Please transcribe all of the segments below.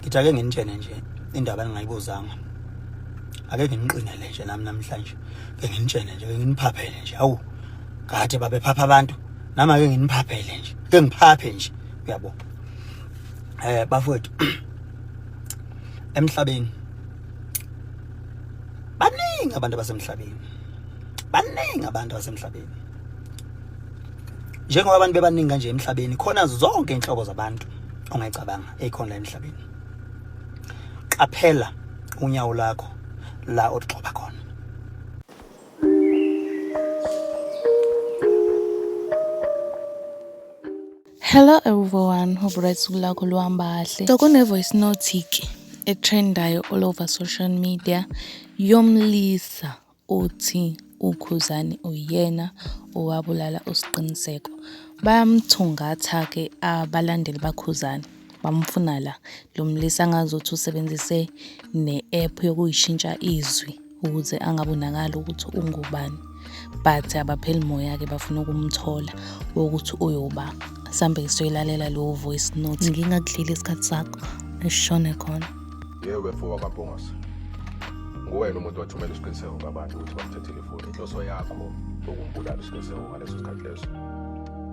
ngithi ake nginitshene nje indaba ningayibuzanga ake nginiqinele nje nami namhlanje ke nginitshene nje ke nginiphaphele nje awu kade babephapha abantu nami ake nginiphaphele nje ke ngiphaphe nje uyabo eh bafowethu emhlabeni baningi abantu abasemhlabeni baningi abantu abasemhlabeni njengoba abantu bebaningi kanje emhlabeni khona zonke inhlobo zabantu ongayicabanga eyikhona la emhlabeni qaphela unyawo lakho la oligxoba khona Hello everyone, hope right suku lakho luhamba kahle. So kune voice note ke etrendayo all over social media yomlisa Uthi uKhuzani uyena owabulala uSqiniseko. Bayamthungatha-ke abalandeli baKhuzani, bamfuna la. Lo mlisa ngazuthi usebenzise ne-app yokuyishintsha izwi ukuze angabonakali ukuthi ungubani. But abapheli moya-ke bafuna ukumthola wokuthi uyoba. Sambe siyoyilalela leyo voice note. Ngingakudlile isikhathi sakho, eshone khona. Yebo befo wakabhongose. Nguwena umuntu wathumela isiqiniseko ngabantu ukuthi bakuthathele ifoni. Inhloso yakho ukumbulala isiqiniseko ngaleso sikhathi leso.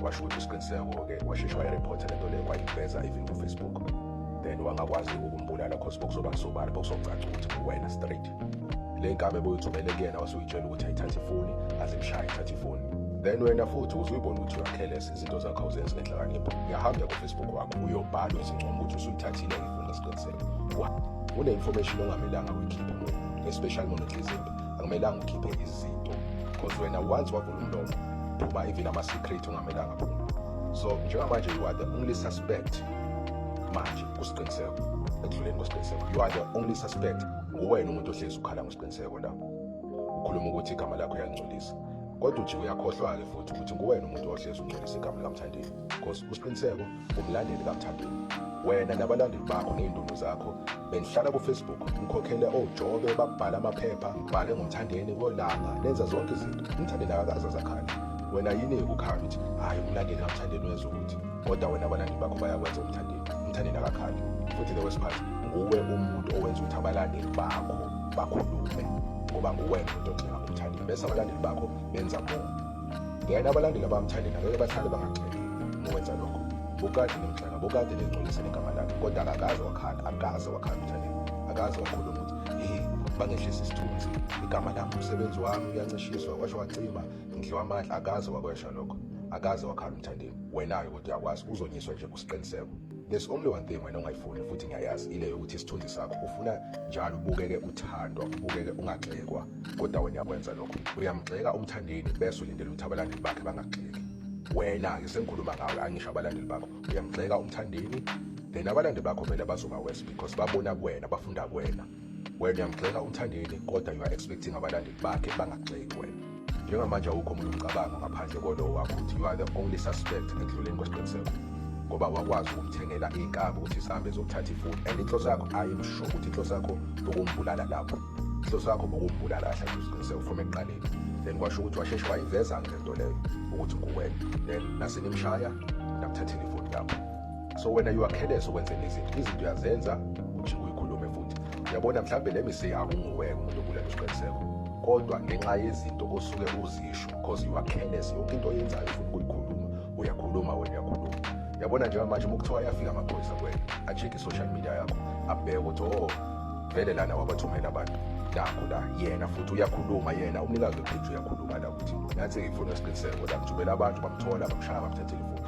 Washo ukuthi isiqiniseko-ke washesha wayirephotha le nto leyo wayiveza even kufacebook then wangakwazi ukumbulala cause bokuzoba kusobala bokuzocaca ukuthi uwena straight le nkabe boyithumele kuyena wasuyitshela ukuthi ayithathe ifoni azimshaye ithathe ifoni then wena futhi uzuyibona ukuthi uyakhelesa izinto zakho awuzenzi ngenhlakanipho uyahamba kufacebook wakho uyobhala izincomo ukuthi usuyithathile ngesiqiniseko kune information ongamelanga uyikhiphe especially mona ehlizimbi akumelanga ukhiphe izinto because wena once wavula umlomo phuma even ama-secret ungamelanga phuma so njengamanje you are the only suspect manje kusiqiniseko ekudluleni kwesiqiniseko you are the only suspect nguwena umuntu ohlezi ukhala ngosiqiniseko la ukhuluma ukuthi igama lakho uyangcolisa kodwa ujiwe uyakhohlwa-ke futhi ukuthi nguwena umuntu ohlezi ungcolisa igama likamthandeni because usiqiniseko Umlandeli kaMthandeni wena nabalandeli bakho ney'ndunu zakho benihlala kufacebook nikhokhele ojobe babhala amaphepha bhale ngomthandeni kolanga nenza zonke izinto umthandeni akakaze azakhale wena yini ekukhala ukuthi hhayi umlandeli kamthandeni wenza ukuthi kodwa wena abalandeli bakho bayakwenza umthandeni umthandeni akakhali futhi the worst part nguwe umuntu owenza ukuthi abalandeli bakho bakhulume ngoba nguwena umuntu ogxeka umthandeni bese abalandeli bakho benza more Yena abalandeli abamthandi nabeke bathande bangagcini ukwenza lokho. Bukade nemhlanga, bukade nengcolisa negama lakhe kodwa akakaze wakhala, akaze wakhala umthandi. Akaze wakhuluma ukuthi hey bangehlisa isithunzi igama lami umsebenzi wami uyancishiswa kwasho wacima ngidliwa amandla akaze wakwesha lokho akaze wakhala umthandeni wena-ke kodwa uyakwazi uzonyiswa nje kusiqiniseko There's only one thing wena ongayifuni futhi ngiyayazi ile yokuthi isithunzi sakho ufuna njalo ubukeke uthandwa ubukeke ungagxekwa kodwa wena yakwenza lokho uyamgxeka umthandeni bese ulindele ukuthi abalandeli bakhe bangagxeki wena-ke sengikhuluma ngawe angisho abalandeli bakho uyamgxeka umthandeni then abalandeli bakho vele bazoba worse because babona kuwena bafunda kuwena Wena uyangigxeka uMthandeni kodwa you are expecting abalandeli bakhe bangagxeki wena. Njengamanje awukho omunye umcabango ngaphandle kolowo wakho ukuthi you are the only suspect ekudluleni kwesiqiniseko ngoba wakwazi ukumthengela iy'nkabi ukuthi sihambe zokuthatha ifoni and inhloso yakho ayimsho ukuthi inhloso yakho bokumbulala lapho inhloso yakho bokumbulala kahle kusiqiniseko from ekuqaleni then kwasho ukuthi washeshe wayiveza-ke le nto leyo ukuthi nguwena then nasenimshaya nakuthathela ifoni yakho so wena you are careless ukwenza izinto izinto uyazenza ujike uyikhulume futhi uyabona mhlawumbe le mistake akunguweke umuntu okulele usiqiniseko kodwa ngenxa yezinto osuke uzisho because you are careless yonke into oyenzayo ufuna ukuyikhuluma uyakhuluma wena uyakhuluma yabona njengoba manje uma kuthiwa ayafika amaphoyisa kwena a-check i-social media yakho abheke ukuthi o oh, vele lana wabathumela abantu nakho la yena futhi uyakhuluma yena umnikazi wepheji uyakhuluma la ukuthi nathi ngifuna isiqiniseko la ngithumela abantu bamthola bamshaya bamthathela ifoni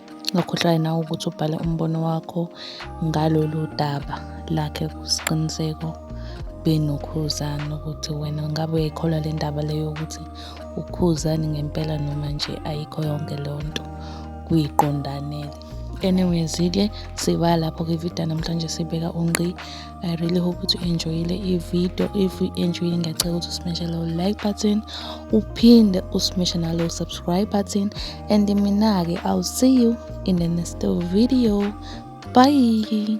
Ngakhohlwa yena ukuthi ubhale umbono wakho ngalolu daba lakhe kusiqiniseko benokhuzana ukuthi wena ngabe uyayikholwa le ndaba leyo ukuthi ukhuzani ngempela noma nje ayikho yonke leyo nto kuyiqondanele anyways-ke siba lapho-ke ividiyo namhlanje sibeka ungqi I really hope ukuthi u-enjoyile i-video if u-enjoyile ngiyacela ukuthi usimeshe lowo like button uphinde usimeshe nalowo subscribe button and mina-ke i'll see you in the next video bye